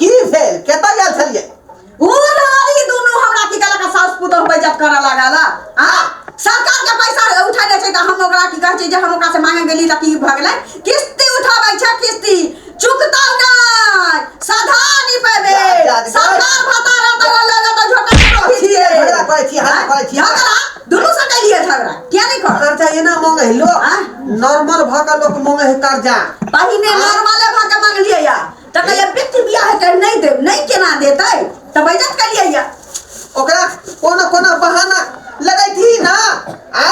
की भेल केतऽ गेल छलियै ओ रहली दुनू हमरा की कहलक साउस पुतोह बैजत करऽ लागल आ सरकार के पैसा उठा लै छै तऽ हम ओकरा की कहै छै जे हम ओकरा से मांगे गेली तऽ की भऽ गेलै किस्ती उठाबै छै किस्ती चुकतौ नै सधा नि पेबे सरकार भत्ता रहतौ तऽ लऽ लेतौ झोटा करै छियै झगड़ा करै छियै हल्ला करै छियै झगड़ा दुनू से कलिए झगड़ा किया नै कर करजा एना मांगे है लोग नॉर्मल भऽ कऽ लोग मांगे है करजा पहिने नॉर्मले भऽ कऽ मांगलियै या तऽ कहलियै बेटी बियाह कर नहि देब नहि केना देतै तऽ बैजत कलियै या ओकरा कोनो कोनो बहाना लगै थी ना आ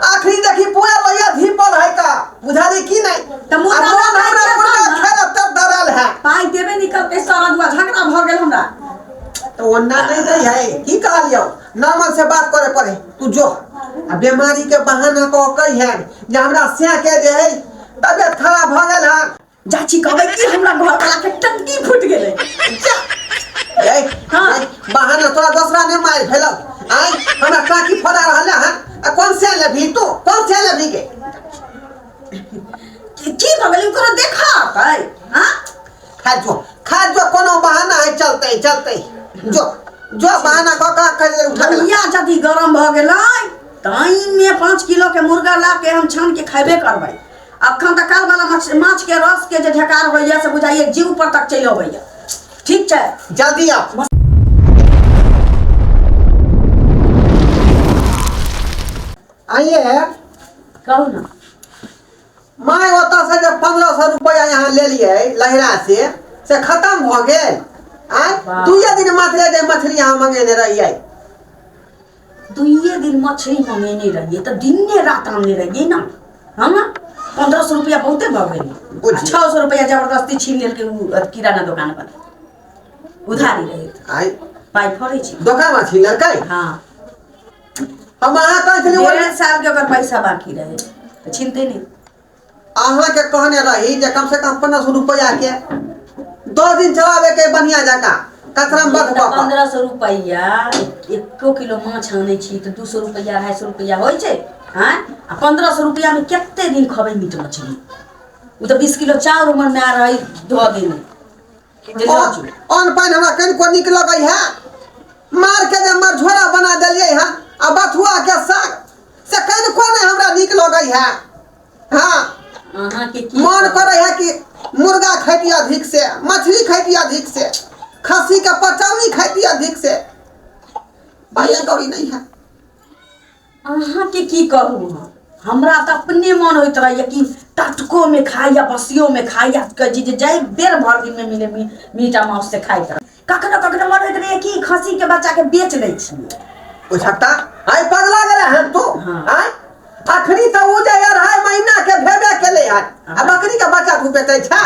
आखरी देखी पूरा लोया धीपल है का बुझा दे की नहीं तऽ मुर्गा अब मोन भाई हमरा के मुर्गा अपन ना। खेला तब डरल है पाइ देबे नहि करतै सारा दुआ झगड़ा भऽ गेल हमरा तो ओन्ना नहीं दे है की कहलियो नॉर्मल से बात करे पड़े तू जो आ बीमारी के बहाना को कही है जे हमरा से के जे है तबियत खराब भ गेल है चाची कहबै कि हमरा घर वाला के टंकी फूट गेलै ए, हाँ। ए, बहाना तोरा दोसरा ने मार भेलो आय हमरा काकी फोड़ा रहल है आ कौन से लेबी तू कौन से लेबी के की की भऽ गेलै कोनो देखा हतै हां खा जो खा जो कोनो बहाना है चलते ही, चलते ही। जो जो बहाना को का कर ले उठा ले। भैया यदि गरम भऽ गेलै ताइमे पाँच किलो के मुर्गा ला के हम छान के खैबे करबै अखन तऽ काल वाला माछ माछ के रस के जे ढेकार होइया से बुझाइए जीव पर तक चलि अबैया ठीक छै जल्दी आउ आइए कहू ना माय ओतऽ से जे पंद्रह सौ रुपया यहाँ ले लिए लहरा से से खत्म भ गेल आय वाह। दुए दिन मात्र जे मछली यहाँ मंगेने रहिए दुइए दिन मछरी मङ्गेने रहियै तऽ दिने रात आनने रहियै ने हम पन्द्रह सए रुपैआ बहुते भऽ गेल बुझियौ। छओ सए रुपैआ जबरदस्ती छीन लेलकै ओ अथी किराना दोकान पर उधारी रहै आइ पाइ फड़ै छै दोकान में छीन लेलकै हँ हम अहाँ कहै छलियै डेढ़ साल के ओकर पैसा बाकी रहै तऽ छीनते नहि अहाँके कहने रही जे कम से कम पंद्रह सौ रुपया के दस दिन चलावे के बढ़िया जका कचरा मत बक पंद्रह सौ रुपया एको किलो माछ आनै छी तऽ दू सौ रुपया अढ़ाई सौ रुपया होइ छै हाँ आ पंद्रह सौ रुपया में कते दिन खबै मीट मछली ओ तऽ बीस किलो चाउर उमर में आ रही धो देने अन पानि हमरा कनिको नीक लगै है मार के जे हमर झोरा बना देलियै है आ बथुआ के साग से कनिको नहि हमरा नीक लगै है हाँ अहाँके की मन करे है कि मुर्गा खैती अधिक से मछली खैती अधिक से खस्सी के पचौनी खैती अधिक से भैया गौरी नहीं है अहाँके की कहू हम हमरा तऽ अपने मन होइत रहैया कि टटकोमे खाइ या बसियोमे खाइ या कहै छी जे जाहि बेर भरि दिनमे मिले मी- मीट आ माउस से खाइत रहै कखनो कखनो मन होइत रहैया कि खस्सीके बच्चाके बेच लै छियै बुझता आइ पगला गेला हन तू हाँ। आइ अखनी तऽ उ जे अढ़ाई महीना के भेबे केले हन आ बकरी के बच्चा तू बेचै छा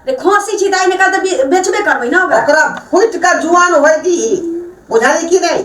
रे खस्सी छी तऽ आइ निकाल तऽ बे- बेचबे करबै ने ओकरा ओकरा फुटि कऽ जुआन होय दी बुझाली कि नहि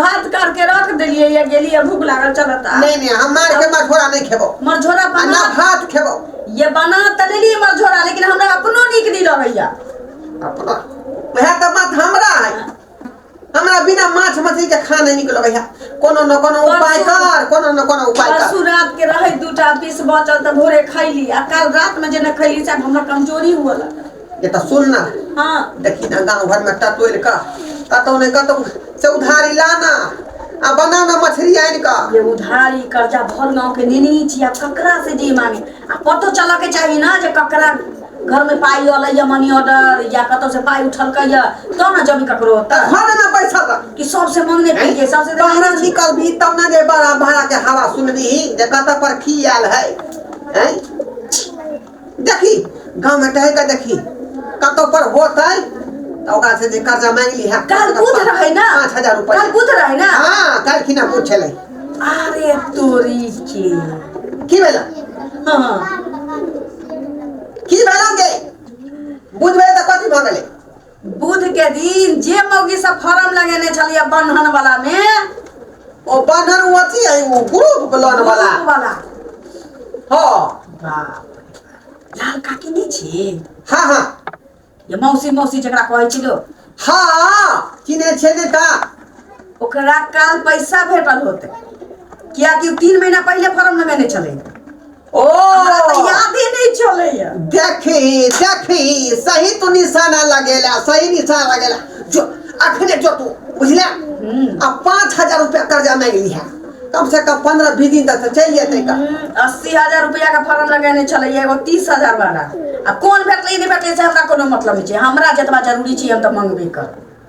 भात काट के रख देलियै या गेलियै भूख लागल चल त नहीं नहीं हम मार के मझोरा नहीं खेबो मझोरा बना ना भात खेबो ये बना त लेलियै मझोरा लेकिन हमरा अपनो नीक नहीं रहैया अपना वह तो बात हमरा है हमरा बिना माछ मछली के खा नहीं निकलो भैया कोनो न कोनो उपाय कर कोनो न कोनो उपाय कर परसू रात के रहे दूटा पीस बचल त भोरे खैली आ कल रात में जेना खैली से हमरा कमजोरी हुआ लगा जे तऽ सुन ने हँ देखी ने गाँव घरमे टटोलि कऽ कतहु ने कतहु से उधारी लाना आ बना ने मछरी आनि कऽ ये उधारी कर्जा भर गाँव के नेने ही छी आब ककरा से जे मांगे आ पतो चलऽ के चाही ना जे ककरा घर में पाई अलै या मनी ऑर्डर या कतौ से पाई उठलकै या तो ना जमी ककरो तऽ ओतऽ घर ने बैसल रह कि सबसे मांगने पीछे सबसे बाहर निकलबी तब ने जे बड़ा भाड़ा के हवा सुनबी जे कतऽ पर की आयल है हैं देखी गाँव में टहल के देखी कतो पर होते तो ओकरा से जे कर्जा मांग ली है कल बुध रहे ना पाँच हजार रुपया कल बुध रहे ना हाँ कल की ना बुध छले अरे तोरी के की भेला हाँ की भेला के बुध भेला तो कथी भगले बुध के दिन जे मौगी सब फॉर्म लगेने छलिए बंधन वाला में ओ बंधन वो अथी है वो ग्रुप लोन वाला ग्रुप वाला हाँ बाप रे। लाल काकी नहीं छी हाँ हाँ ये मौसी मौसी जकरा कहै छी लोग हाँ किने छे ने ता ओकरा काल पैसा भेटल होते कियाकि उ तीन महीना पहले फॉर्म लगेने छलै ओ हमरा तऽ यादे नहि चलैया देखी देखी सही तू निशाना लगेला सही निशाना लगेला जो अखने जो तू बुझले आ पाँच हजार रुपया कर्जा मांग लिहा कम से कम पंद्रह बीस दिन तक से चल जेते का हम्म, अस्सी हजार रुपया के फॉर्म लगेने छलैया एगो तीस हजार वाला आ कोन भेटलै नहि भेटलै से हमरा कोनो मतलब नहि छै हमरा जतबा जरूरी छै हम तऽ मंगबे करब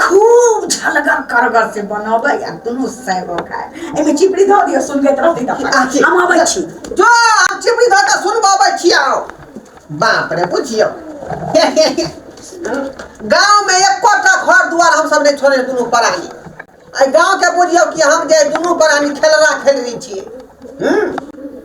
खूब झलगर करगर से बनबै आ दुनू साइडो खाय एहिमे चिपड़ी धऽ दियौ सुनबैत रहतै तऽ अपन। आखिर हम अबै छी जो आब चिपड़ी धऽ कऽ सुनबबै छियौ बाप रे बुझियौ गाँवमे एकोटा घर दुआर हमसभ नहि छोड़ै दुनू परानी एहि गाँवके बुझियौ कि हम जे दुनू प्राणी खेलरा खेलरी छी हूँ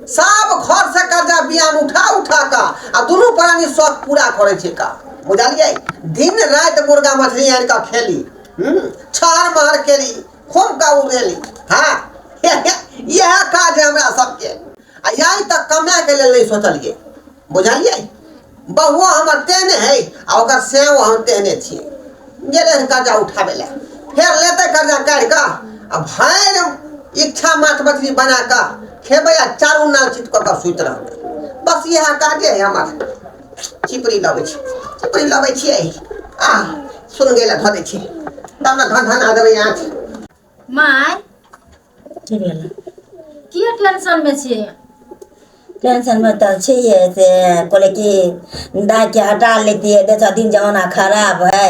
सब घर से कर्जा बियाम उठा उठा कऽ आ दुनू प्राणी शौक पूरा करै छै का बुझलियै दिन राति मुर्गा मछली आनि कऽ खेली हूँ छहर महर केली खूब का उड़ेली हाँ इएह काज है हमरा सबके आ यार तक कमाए के लेल नहीं सोचलिए बुझलिए बहुओ हमर तेहने है आ ओकर सेहो हम तेहने छियै गेले है कर्जा उठाबे ले फेर लेते कर्जा काढ़ कऽ आ भरि इच्छा माछ मछली बना कऽ खेबै आ चारू नाल चित कऽ कऽ सुति रहबै बस इएह काजे है हमर चिपड़ी लबै छी चिपड़ी लबै छियै आ सुन गेला धऽ दै छी तब ने धन धन आ देबै आँच माय की भेल किए टेंशन मे छियै टेंशन मे तऽ छियै से कहले कि दाय के हटा लेतियै देखा दिन जमाना खराब है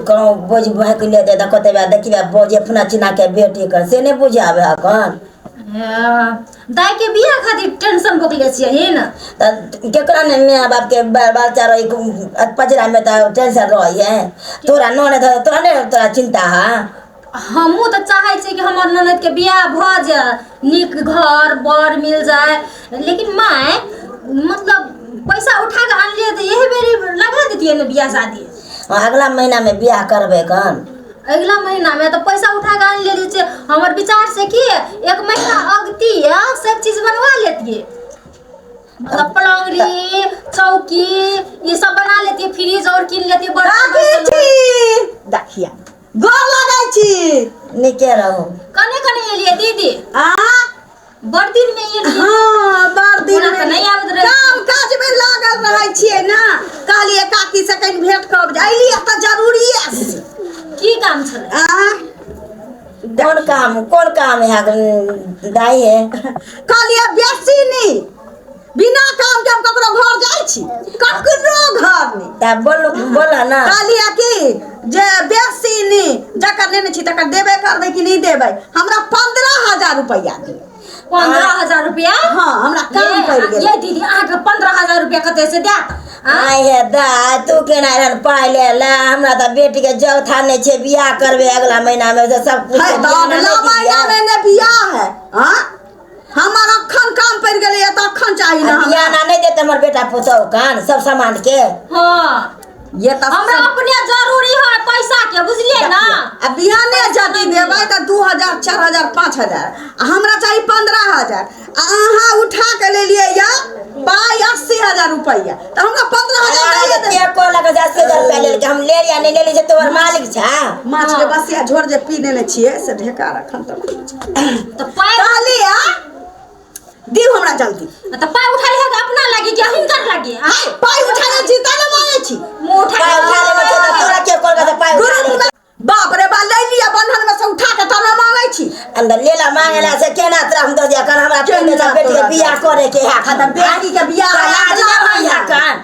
कहूँ बोझ बहक ले दे कते देखिए बोझ अपना चिना के बेटी कर से नहि बुझाबे हकन दाई के बियाह खातिर टेंशन भोगले छियै ही ना तऽ केकरा ने माय बाप के बाल बच्चा रही पजरा में तऽ टेंशन रही है तोरा नने धर तोरा ने तोरा चिंता है हमहूँ तऽ चाहै छियै कि हमर ननद के बियाह भऽ जाय नीक घर बर मिल जाय लेकिन माय मतलब पैसा उठा के आनलियै तऽ एही बेरी लगा देतियै ने बियाह शादी अगला महीना में बियाह करबे कन अगिला महीनामे तऽ पैसा उठा कऽ आनि लेले छियै हमर विचार से की एक महीना अगती है सब चीज बनवा लेतियै मतलब पलौरी चौकी ये सब बना लेती फ्रिज और किन लेती बड़ा राखी छी देखिया गोर लगै छी नीके रहू कने कने एलियै दीदी आ बड़ दिन में ये लिए हाँ बड़ दिन ओना तऽ नहि आबैत रहै काम काज में लागल रहै छियै ना कहलिए काकी से कहीं भेंट कर जाइली तऽ जरूरी है की काम छलै आ कोन काम कोन काम है दाई है कहलिए बेसी नी बिना काम के हम ककरो घर जाइ छी ककरो घर नहि तऽ बोल बोल ने कहलियै कि जे बेसी नहि जकर लेने छी तकर देबे करबै कि नहि देबै हमरा पंद्रह हजार रुपैआ दिअ पंद्रह हजार रुपया हँ हमरा काम पड़ि गेल ये दीदी अहाँके पंद्रह हजार रुपया कते से देत आँय? आय हे दा तू केना रहन पाइ ले ला हमरा तऽ बेटी के जग थाने छै बियाह करबे अगला महीना में से सब कुछ है तऽ अगला महीना मे ने बियाह है हाँ हमर अखन काम पड़ गेलै या तऽ अखन चाही ना हमरा बियाह ना नहीं देते हमारे बेटा पुतहु कान सब सामान के हाँ ये तऽ हमरा अपने जरूरी है पैसा के बुझलिए ना आ बिहाने जदी देबै तऽ दू हजार चारि हजार पाँच हजार आ हमरा चाही पंद्रह हजार आ अहाँ उठा के लेलियै या पाइ अस्सी हजार रुपैआ तऽ हमरा पंद्रह हजार अरे दैए देबै। ये को लगा जा से दर पहले के हम ले या नहीं ले ले जे तोर मालिक छा माछ के बसिया झोर जे पी देने छियै से ढेका रखन तऽ तऽ पाइ कहली आ दिउ हमरा जल्दी तऽ पाइ उठाइ है अपना लागी कि हिनकर लागी है पाइ उठा ले छी ता ना मांगे छी मुंह उठा पाइ उठा ले बच्चा तऽ तोरा के कहलका तऽ पाइ उठा ले बाप रे बा ले लिया बंधन में से उठा के तना मांगे छी अंदर लेला मांगेला से केना तोरा हम दऽ दिया कर हमरा केना बेटी के बियाह करे के है खतम बेटी के बियाह लाज ना भैया कान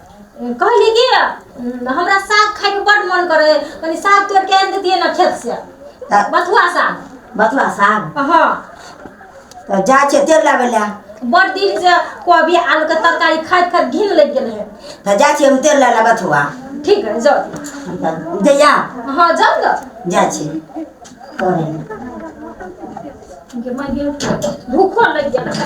कहली कि हमरा साग खाइके बड्ड मन करे कनी साग तोड़ के आनि देतियै ने खेत से तऽ बथुआ साग बथुआ साग हाँ तऽ जाइ छियै तेल लाबै लए बड़ दिन से कोबी आलू के तरकारी खाइत खाइत घिन लग गेल है तऽ जाइ छियै हम तेल लए लए बथुआ ठीक है जाओ तऽ जइया हाँ जाओ ना जाइ छी करै लए। भूखो लग गेल है।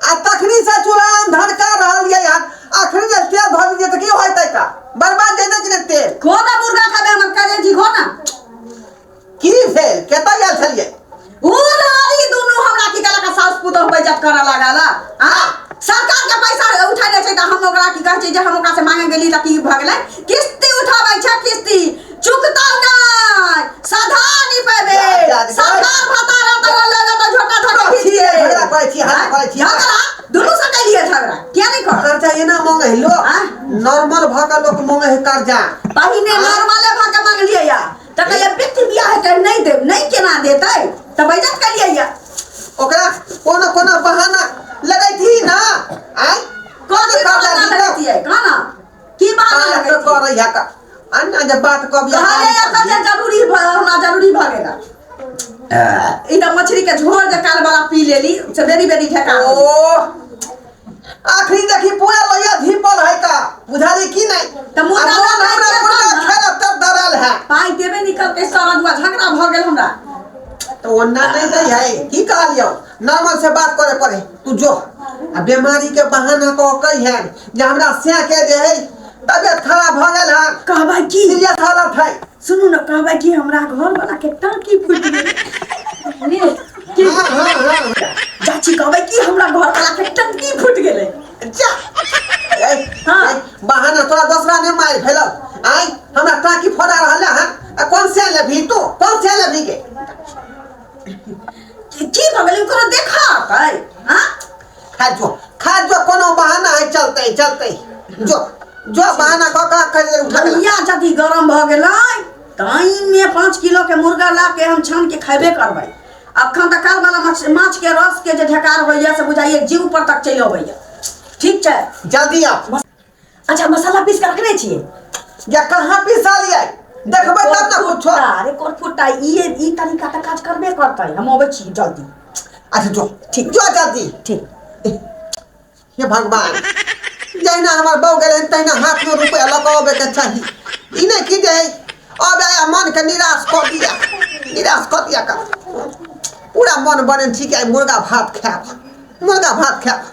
आ तखनी से चूल्हा हम धनका रहल ये यार अखनी जे तेल धऽ दीजिए तऽ की होइतै का बर्बाद जेतै कि नहि तेल खो ना मुर्गा खाबे हमर करे जी खो ना की भेल केतऽ गेल छलियै ऊ ना ई दुनू हमरा की कहला का सास पुतोह बैजत करऽ लागल आ सरकार के पैसा उठा लै छै तऽ हम ओकरा की कहै छै जे हम ओकरा से मांगे गेली तऽ की भऽ गेलै किस्ती उठाबै छै किस्ती चुकतौ नै सधा नि पेबे सधा भता रहत अगर लगे तो झोटा धरे खीचिए झगड़ा करे छी हां करे छी झगड़ा दुनु से कलिए झगड़ा किया नहीं कर करजा एना मांगे है लोग हाँ? नॉर्मल भ के लोग मांगे है करजा पहिने नॉर्मले भा के मांग लिए या त कहिए पित बियाह है कर नहीं दे नहीं केना देतै त बैजत कलिए या ओकरा कोनो कोनो बहाना लगै थी ना आय कौन करजा करजा दिए खाना की बात पार लगै तऽ छै करै है तऽ अन्ना जे बात कऽ बिया कहले या तऽ जे जरूरी भ हमरा जरूरी भ गेल ई तऽ मछली के झोर जे काल वाला पी लेली से बेरी बेरी ढेका ओ आखरी देखी पूरा लोहिया धीपल है का बुझाली की नहीं तऽ मुर्गा आ मोन हमरा लड़ाई मुर्गा करता ना। खेला तब दरल है पाई देबे निकल के सारा दुआ झगड़ा भ गेल हमरा तो ओन्ना नहीं दे है की कहलियो नॉर्मल से बात करे पड़े तू जो आ बीमारी के बहाना कह कही है जे हमरा से के जे है तबियत खराब भ गेल है कहबै की सीरियस हालत है सुनू ने कहबै की हमरा घर वाला के टांकी फूटि गेल बुझलियै? की हाँ हाँ हाँ चाची कहबै की हमरा घर वाला के टांकी फूटि गेलै जा ए, हाँ। ए, बहाना तोरा दूसरा ने मार भेल आई हमरा टाकी फोड़ा रहल है आ कौन से लेबी तू कौन से लेबी के की की भऽ गेलै कोनो देखा हतै हाँ खा जो खा जो कोनो बहाना है चलते चलते जो जो बहाना कऽ कऽ कर ले उठा के ला। भैया जदि गरम भऽ गेलै ताहिमे पाँच किलोके मुर्गा ला के हम छान के खयबे करबै अखन तऽ कालवला माछ माछके रसके जे ढेकार होइए से बुझाइए जीव पर तक चलि अबैए ठीक छै जल्दी आओ अच्छा मसाला पीस के रखने छियै या कहाँ पिसलियै देखबै तब ने कुछो कोरफुट्टा, अरे कोरफुट्टा ई ई तरीका तऽ काज करबे करतै हम अबै छी जल्दी अच्छा जो ठीक। जो जल्दी ठीक हे भगवान जहिना हमर बहू गेलै तहिना हाथमे रुपैआ लऽ कऽ अबैके चाही ई नहि कि जे अब आया मनके निराश कऽ दिया निराश कऽ दिया का पूरा मन बने छी कि आइ मुर्गा भात खायब मुर्गा भात खायब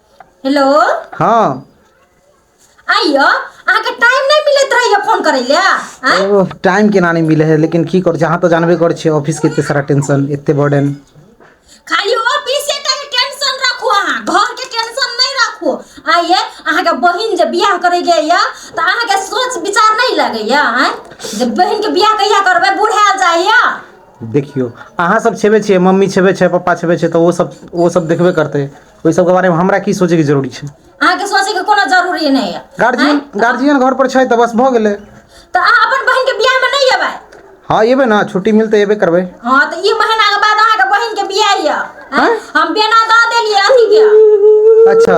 हेलो हँ आइयो अहाँके टाइम नहि मिलैत रहैया फोन करै लए आँय ओ टाइम केना नहि मिलै है लेकिन की करै छै अहाँ तऽ जानबे करै छियै ऑफिस के एते सारा टेंशन एते बर्डन खाली ऑफिसे टा के टेंशन राखू अहाँ घर के टेंशन नहि राखू आ ये अहाँके बहिन जे बियाह करे के ये तऽ अहाँके सोच विचार नहि लगैया आँय जे बहिन के बियाह कहिया करबै बुढ़ायल जाइया देखियौ अहाँ सब छेबे छियै मम्मी छेबे छै पप्पा छेबे छै तऽ ओ सब ओ सब देखबे करतै ओहि सबके बारेमे हमरा की सोचैके जरूरी छै अहाँके सोचैके कोनो जरूरी नहि यऽ गार्जियन गार्जियन घर पर छै तऽ बस भऽ गेलै तऽ अहाँ अपन बहिन के बियाह मे नहि एबै हँ एबै ने छुट्टी मिलतै एबे करबै हँ तऽ ई महीना के बाद अहाँके बहिन के बियाह यऽ हम बेना दऽ देलियै अथी के अच्छा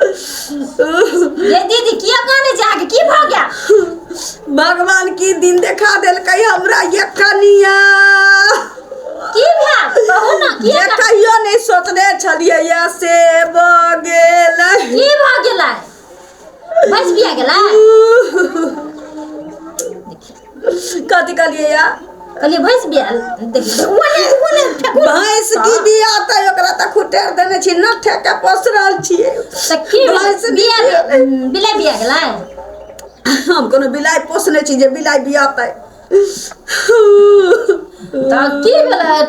ये दीदी किया काने जाके की भ गया भगवान की दिन देखा देलकै हमरा ये कनिया की भया कहू ना की जे कहियो नहीं सोचने छलिए ये से भ गेल की भ गेला बच बिया गेला कथी कहलिए या कहलिए भैंस बियाल देखिए ओने ओने भैंस की बिया त ओकरा त खुटेर देने छी न ठेके पोस रहल छी त की भैंस बिया बिला बिया गेला हम कोनो बिलाई पोसने छी जे बिलाई बिया त त की भेला